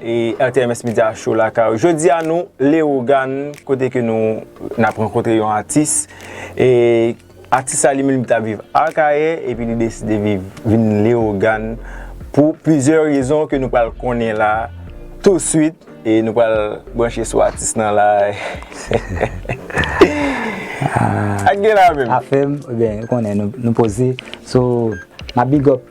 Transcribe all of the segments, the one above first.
RTMS Media Show lakay ou. Jodi a nou Leogan kote ke nou nap rankontre yon atis. E atis la li menm li tap viv Akayè epi li deside viv vin Leogan pou plizyè rezon ke nou pral konnen la tou swit e nou pral branche sou atis nan la. Sak gen la menm? Afèm, ou konnen nou poze. So, map big up.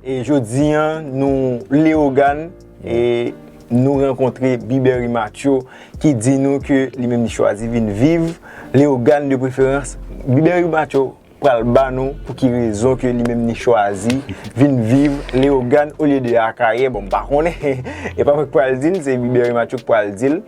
E jodi an nou Leogane e nou rankontre Bibery Mathieu ki di nou ke li menm li chwazi vin viv Leogane de preferans. Bibery Mathieu pral ba nou pou ki rezon ke li menm li chwazi vin viv Leogane olye de Akayè. Bon m pa konnen, e pa mwen ki pral di l, se Bibery Mathieu ki pral di l.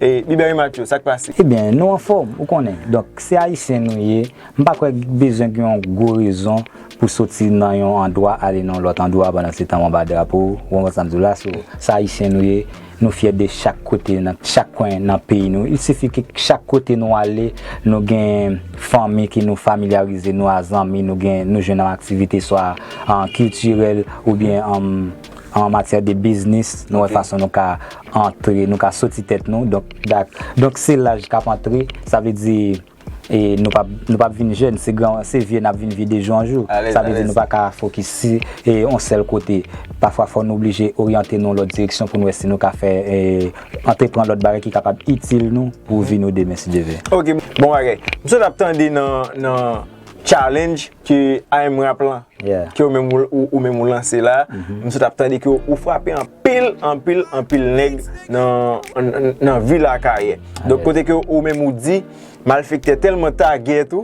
E Bibery Mathieu, sa k pase? Ebyen nou anfòm ou konnen, donk se Ayisyen nou ye. M pa kwè bezwen gen yon gwo rezon pou soti nan yon andwa ale nan yon lòt andwa pandan se tan w anba drapo, ou konprann sa m di w la? So, sa Ayisyen nou ye, nou fyè de chak kote nan chak kwen nan peyi nou. Il sifi ke chak kote nou ale, nou gen fanmi ke nou familyarize nou a, zanmi nou gen, nou jwenn nan aktivite swa kiltirèl oubyen an matyè de biznis, nou wè fason nou ka antre, nou ka soti tèt nou. Donk, donk se laj k ap antre, sa vle di. E nou pap nou pap vin jèn, se gran se vye nap vin vye de jou an jou. Sa vle di nou pa ka fokis si e on sèl kote. Pafwa fò nou oblije oryante nou lòt direksyon pou nou wè si nou ka fè e antrepran lòt bagay ki kapab itil nou pou vi nou demen si Dye vle. Ok, bon bagay. M sot ap tande nan nan challenge ke amrap lan. ke ou menm ou menm ou lanse la m sot ap tande ke ou frape anpil anpil anpil nèg nan vil akayè donk kote ke ou menm ou di malfektè tèlman tagèt ou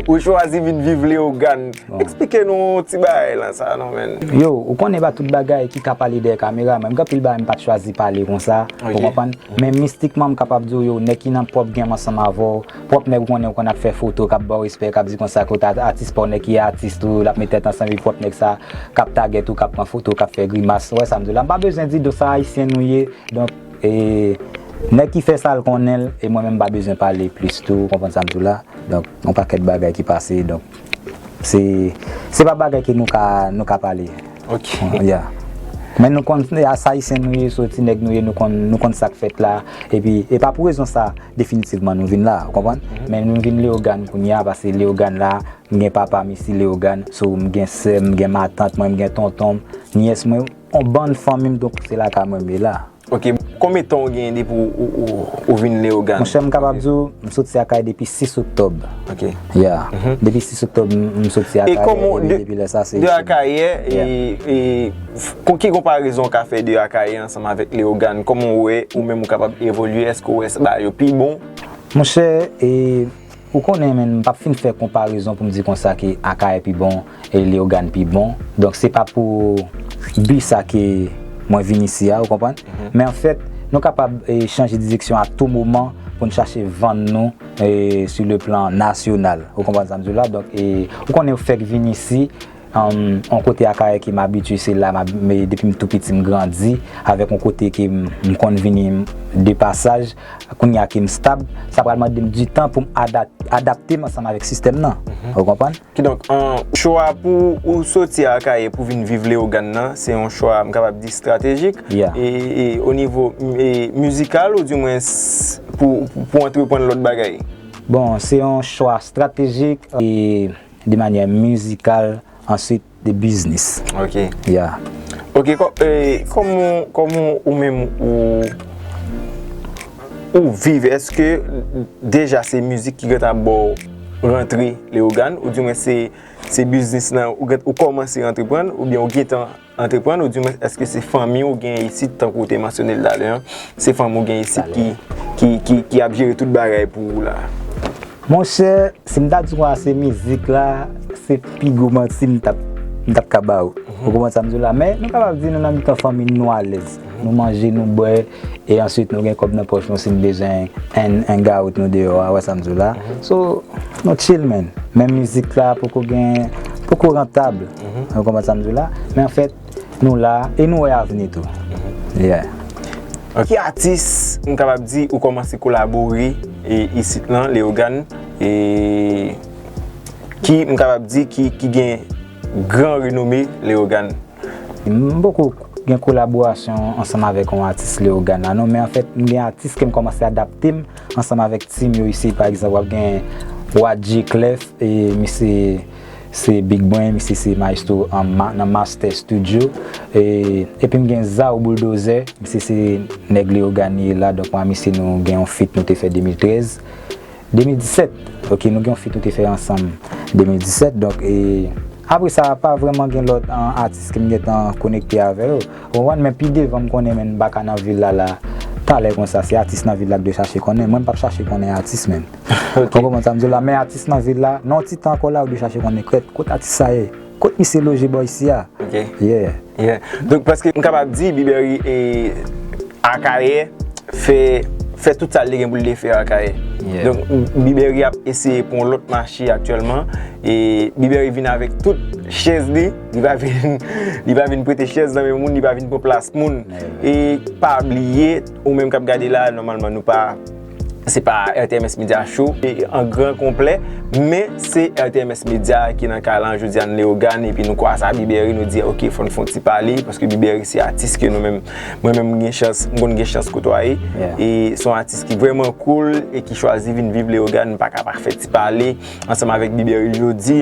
ou chwazi vin viv leogàn eksplike nou yon ti bagay lan sa non menn yo ou konnen se pa tout bagay ki ka pale dèyè kamera menm gen anpil bagay m pat chwazi pale konsa ou konprann men mistikman m kapab di w yo nèg ki nan pwòp gèm ansanm avè w. Pwòp nèg ou konnen ou konn ap fè foto kap baw respè kap di konsa kot atis paw nèg ki atis tou lap met tèt ansanm epi pwòp nèg sa kap tagèt ou kap pran foto kap fè grimas ou wè sam diw la mpa bezwen di donk sa ayisyen nou ye donk nèg ki fè sal konnenl e mwen menm mpa bezwen pale plis tou ou konprann sam diw la donk gon pakèt bagay ki pase donk. Se pa bagay ke nou ka nou ka pale. Ok. Ya. Men nou konn se as Ayisyen nou ye, sou ti nèg nou ye nou konn nou konn sa k fèt la. E pi e pa pou rezon sa definitivman nou vin la. Ou konprann? Men nou vin Leogane kounye a pase Leogane la m gen papa m isi Leogane. So m gen sè m, m gen matant mwen, m gen tonton m, nyès mwen. On bann fanmi m donk se lakay mwen m ye la. Ok, konbe tan ou genyen depi ou vin Leyogan? Monchè m kapab di w, m soti Akay depi 6 oktòb. Ok. Ya. Depi 6 oktòb m soti Akayè. E kòman w de, de Akayè, e kon ki konparezon w ka fè de Akayè ansanm avèk Leyogan? Kòman w wè ou menm ou kapab evolye? Èske w wè sa ba yo pi bon? Monchè, e. Ou konnen men m pap fin fè konparezon pou m di konsa ke Akayè pi bon e Leyogàn pi bon. Donk se pa pou bi sa ke mwen vin isi a, ou konprann. Men anfèt, nou kapab chanje direksyon a tou moman pou n chache vann nou sou le plan nasyonal. Ou konprann sa m di w la? Donk, ou konnen ou fèk vin isi. Yon kote Akayè ke m abitye se la depi m tou piti m grandi avèk yon kote ke m konn vini de pasaj kounye a ke m stab sa pral mande m di tan pou m adapte m ansanm avèk sistèm nan ou konprann? Kidonk chwa pou ou soti Akayè pou vin viv Leyogàn nan se yon chwa m kapab di estratejik e o nivo mizikal ou di mwen pou antreprann lòt bagay? Bon se yon chwa estratejik e De manyè mizikal answit de biznis. Ok. Ya. Ok, kòman kòman ou menm ou ou viv? Eske deja se mizik ki gentan ap ba w rantre Leyogàn? Ou di mwen se se biznis nan ou kòmanse antreprann oubyen ou gentan Antreprann ou dimwens eske se fanmi ou gen isit tankou ou te mansyone l talè an, se fanmi ou gen isit ki ap jere tout bagay pou ou la? Monchè, si m ta di konsa se mizik la, se pi gwo manti m tap m tap ka ba ou. Ou konprann sa m di w la? Men nou kapab di nou nan mitan fanmi n nou alèz. Nou manje, nou bwè. E answit nou gen kòb nan pòch nou si n bezwen 1 gout nou deyò a, wè sa m di w la. So, nou chill man. Menm mizik la poko gen, poko rantab. Ou konprann sa m di w la. Men anfèt, nou la e nou wè avni tou. Yeah. Ak ki atis m kapab di ou kòmanse kolabore isit lan Leyogàn e ki m kapab di ki gen gran renome Leyogàn? M poko gen kolaborasyon ansanm avèk yon atis Leogana non, men anfèt m gen atis ke m kòmanse adapte m ansanm avèk team yo isit pa egzanp wap gen Wadji Clef e misye se Big Brain misye se maestro nan Master Studio epi m gen Zao Boulldozè misye se nèg Leogane la donk mwen a misye nou gen yon feat nou te fè 2013. 2017 ok nou gen yon fit ou te fè ansanm 2017 donk e apre sa pa vreman gen lòt atis kem gentan konekte avè yo ou konprann men pi devan m konnen menn baka nan vil la la talè konsa se atis nan vil la k dwe chache konnen mwen m pap chache konnen atis menn ou konprann sa m di w la men atis nan vil la nan yon ti tan ankò la ou dwe chache konnen krèt kot atis sa ye. Kot misye loje bò isi a? Ok. Yeah. Yeah. Donk preske m kapab di Biberi e Akayè fè fè tout sa li gen pou l te fè Akayè. Yeah. Donk Biberi ap eseye pran yon lòt mache aktyèlman e Biberi vin avèk tout chèz li, li pa vin li pa vin prete chèz nan men moun, li pa vin pran plas moun. Yeah. E pa bliye ou menm k ap gade la nòmalman nou pa Se pa RTMS Media Show an gran konplè, men se RTMS Media ki nan kay lan jodi a nan Leyogàn epi nou kwa sa Biberi nou di ok fò n fon ti pale paske Biberi se atis ke nou menm mwen menm m gen chans m konn gen chans kotwaye e son atis ki vrèman koul e ki chwazi vin viv Leyogàn m pa ka pa fè ti pale ansanm avèk Biberi jodi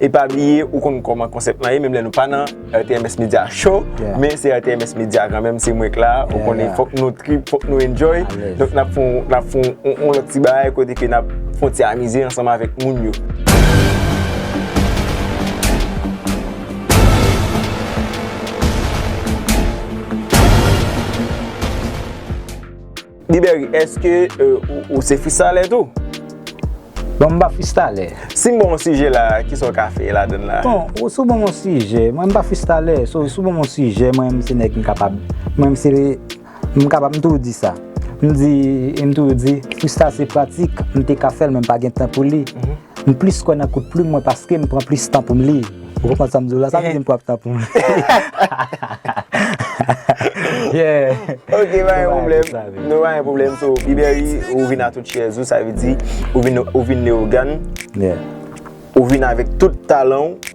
e pa bliye ou konn kòman konsèp lan ye menm lè nou pa nan RTMS media show Men se RTMS media kanmenm se mwenk la Ou konnen fok nou trip, fok nou enjoy Donk nap fon, nap fon on lòt ti bagay Kote ke nap fon ti amize ansanm avèk moun yo Biberi eske ou se fristalè tou? Bon m pa fristalè. Si m ban w yon sijè la, kisa w ka fè ladan l la? Bon, ou si w ban m yon sijè, mwen m pa fristalè, so si w ban m yon sijè mwen m se nèg m kapab, mwen m se, m kapab m toujou di sa, m di, m toujou di, frista se pratik, m te ka fè l men m pa gen tan pou li. M plis kwè nan kout plim mwen paske m pran plis tan pou m li. Ou konprann sa m di w la? Sa vle di m pran tan pou m li. Nou pa gen pwoblèm. So, Pi Berry, ou vin a tout chèz ou, sa vle di ou vin leyogan. Ou vin avèk tout talan ou.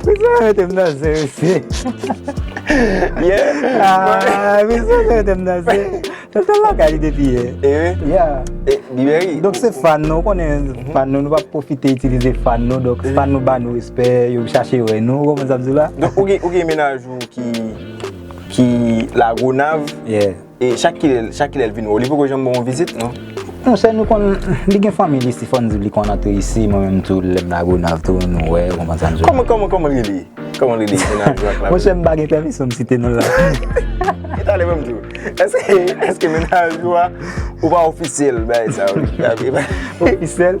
Pou kisa yo mete m nan zen mesye? Aah pou kisa yo mete m nan zen? Mwen te lakay li depi yè. E wi? Ya. E li meri? Donk se fan nou, ou konnen fan nou, nou pa pwofite itilize fan nou, donk fan nou ba nou respè, yo chache wè nou, ou konprann sa m di w la? Donk ou gen menaj ou ki lagonav? Yeah. E chak kilè, chak kilè l vin wè w? Li poko janm ban w vizit non? Monchè nou konn, li gen fanmi l isi fò n di li konn antre isi, mwen menm tou lè m Lagonav tou nou wè, ou konprann sa m di w. Kòman, kòman, kòman l rele? Kòman l rele moun ak la? Monchè m pa gen pèmisyon m site non l la. E talè banm di w, èske, èske mennaj ou a, ou pa ofisyèl bay sa w? Ofisyèl?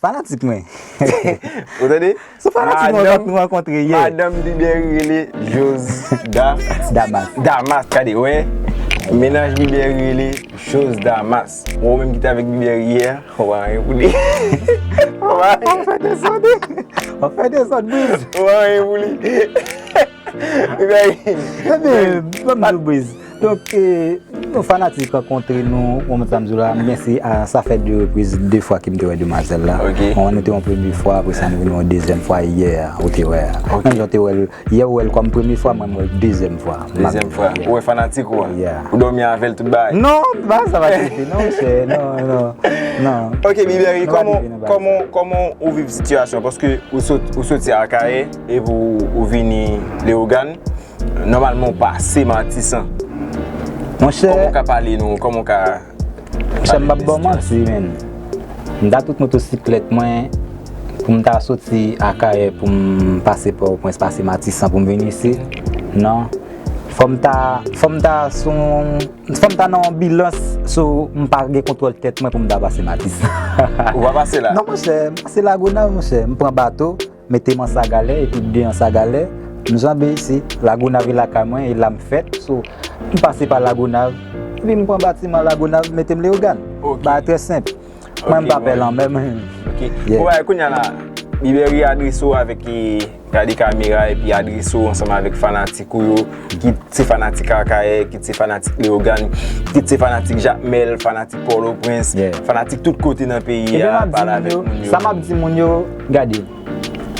Fanatik mwen. Ou tande? Se fanatik mwen vant nou rankontre ye. Madanm Biber rele Josda. Damas. Damas tande wè. Menaj Biber rele Josdamas. Ou menm ki te avèk Biber yè a, ou pa anyen pou li. Ou pa anyen. Ou fè dezòd wi. Ou fè dezòd Briz. Ou pa anyen pou li. Ou pa anyen. Ebyen, banm di w Briz. Donk yon fanatik rankontre nou yon moun sa m di w la m gen se a sa fè 2 repriz 2 fwa ke m te wè demwazèl la mwen nou te wè yon premye fwa apre sa nou vin wè yon dezyèm fwa yè a ou te wè a menm jan w te wè l yè ou wè l kòm premye fwa mwen m wè l dezyèm fwa dezyèm fwa ou wè fanatik ou a ou dòmi avè l tout bagay non ba sa pa soti non chè non non ok Biberi kòman kòman ou viv sitiyasyon paske ou soti akayè epi ou vini Leogane Nòmalman ou pa ase matisan. Monchè. Kòman ou ka pale nou? Kòman ou ka. Monchè m pap baw manti menn. M ta tout motosiklèt mwen pou m ta soti Akayè pou m pase Pòtoprens, pase Matisan pou m vin isi. Non. Fò m ta, fò m ta sou yon, fò m ta nan yon bilans sou m pa gen kontwòl tèt mwen pou m ta pase Matisan. Ou pa pase la? Non monchè, m pase Lagonav monchè. M pran bato. Mete m an sagalè epi bde an sagalè M janbe isi, Lagonav e lakay mwen e la m fèt So m pase pa Lagonav epi m pran batiman Lagonav mete m Leyogàn Bagay trè senp Mwen m pa pè lanmè m Bon bagay Kounya la Biberi adrese w avèk Gade kamera epi adrese w ansanm avèk fanatik ou yo Kit se fanatik Akayè Kit se fanatik Leyogàn Kit se fanatik Jakmèl Fanatik Pòtoprens Fanatik tout kote nan peyi a Pale avèk moun yo Sa m ap di moun yo Gade,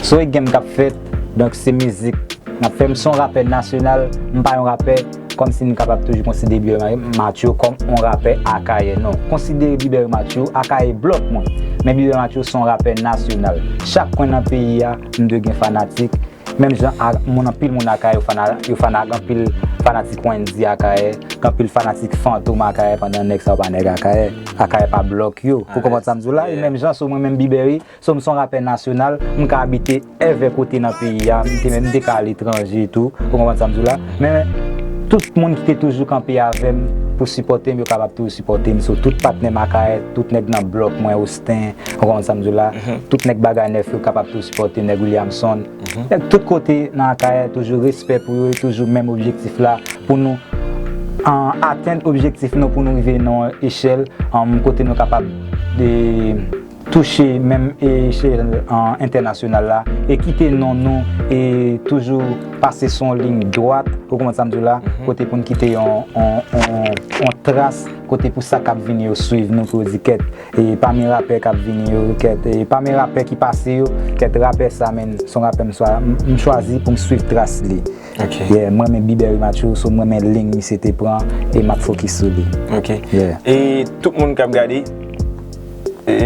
son e game kap fèt, donk se mizik nap fè. M son rapè nasyonal, m pa yon rapè kòm si m kapab toujou konsidere Bieber Mathieu kòm yon rapè Akayè. Non, konsidere Bieber Mathieu Akayè blòk mwen, men Bieber Mathieu son rapè nasyonal. Chak kwen nan peyi a, m dwe gen fanatik, Menm jan ak moun anpil moun akayè yo fana yo fana ak anpil fanatik Wendy akayè gen anpil fanatik fantom akayè pandan nèg sa yo pa nèg akayè akayè pa blòk yo ou konprann sa m di w la e menm jan sou mwen menm Bberry sou m son rapè nasyonal m ka abite èvè kote nan peyi a m te menm m te ka aletranje tou ou konprann sa m di w la men tout moun ki te toujou kanpe avè m pou sipòte m yo kapab toujou sipòte m sou tout patnè m akayè tout nèg nan blòk mwen ou. Justin, ou konprann sa m di w la, tout nèg Bagay Nèf yo kapab tou sipòte nèg Williamson. Nèg tout kote nan Akayè toujou respè pou yo e toujou menm objektif la pou nou atenn objektif nou pou nou rive nan yon echèl kote nou kapab touche menm echèl entènasyonal la e kite non nou e toujou pase sou yon liy dwat, ou konprann sa m di w la, kote pou n kite yon tras kote pou sa k ap vini yo swiv nou pou yo di kèt. E pami rapè kap vini yo kèt e pami rapè ki pase yo kèt rapè sa menn son rapè m swa m chwazi pou m swiv tras li yeah m renmen Bieber Immature so m renmen lign misye te pran e map fokis sou li yeah. E tout moun kap gade e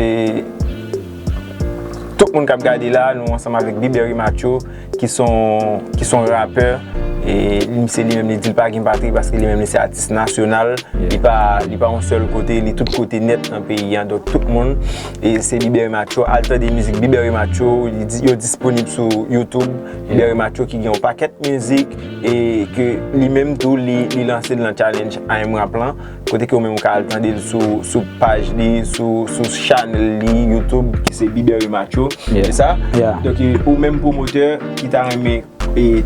tout moun kap gade la nou ansanm avèk Bieber Immature. ki son rapè, e li se li menm li di li pa gen patri paske li menm li se atis nasyonal, li pa yon sèl kote, li tout kote nèt nan peyi an, donk tout moun, e se Libere Matcho, al tande mizik Libere Matcho, yo disponib sou YouTube, Libere Matcho ki gen yon pakèt mizik, e ke li menm tou li lanse nan challenge IMRAP lan. Kote ke ou menm ou ka al tande l sou paj li, sou chanèl li YouTube ki se Bibery Matcho, se sa? Donk ou menm pwomotè ki ta renmen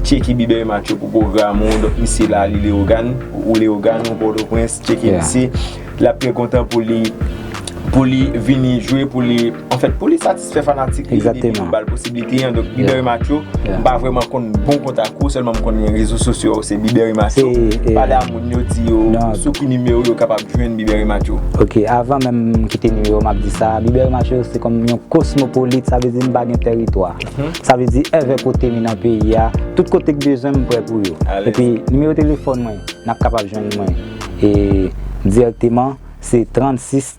tcheke Bibery Matcho pou pwogram ou, donk misye la li Leyogàn, ou Leyogàn ou Pòtoprens, tcheke misye. L ap trè kontan pou li vini jwe, pou li, anfèt pou li satisfè. Sè fanatik li depi nou bal posibilite an Donk Biberi Matyo M pa vreman konn bon kont ak ou Sèlman m konn gen rezo sosyo a ou se Biberi Matyo Pale a moun yo di yo sou ki nimewo yo kapab jwenn Biberi Matyo Ok avan menm m kite nimewo m ap di sa Biberi Matyo se kòm yon kosmopolit sa vle di m pa gen teritwa Sa vle di èvè kote mi nan peyi a Tout kote k bezwen m m prè pou yo Epi nimewo telefòn mwen n ap kapab jwenn mwen e dirèkteman se 36.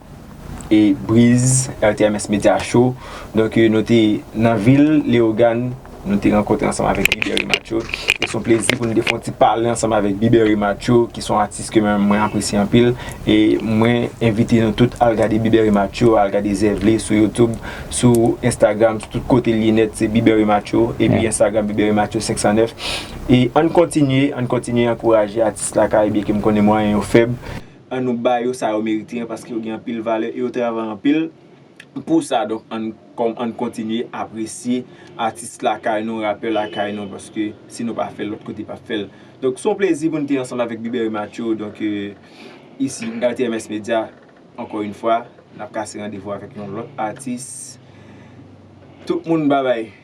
e Briz RTMS Media Show donk nou te nan vil Leogane nou te rankontre ansanm avèk Biberi Matcho e son plezi pou nou te fè yon ti pale ansanm avèk Biberi Matcho ki son atis ke menm mwen apresye anpil e mwen envite nou tout al gade Biberi Matcho al gade zèv li sou YouTube sou Instagram sou tout kote li ye nèt se Biberi Matcho epi Instagram Biberi Matcho 509 e ann kontinye ann kontinye ankouraje atis lakay byenke m konnen mwayen yo fèb. An nou ba yo sa yo merite an paske yo gen anpil valè e yo travay anpil pou sa donk an n kontinye apresye atis lakay nou rapè lakay nou paske si nou pa fè l lòt kote pap fè l donk s on plezi pou n te ansanm avèk Bbery Mathieu donk isi nan TMS Media ankò yn fwa n ap kase randevou avèk yon lòt atis tout moun babay.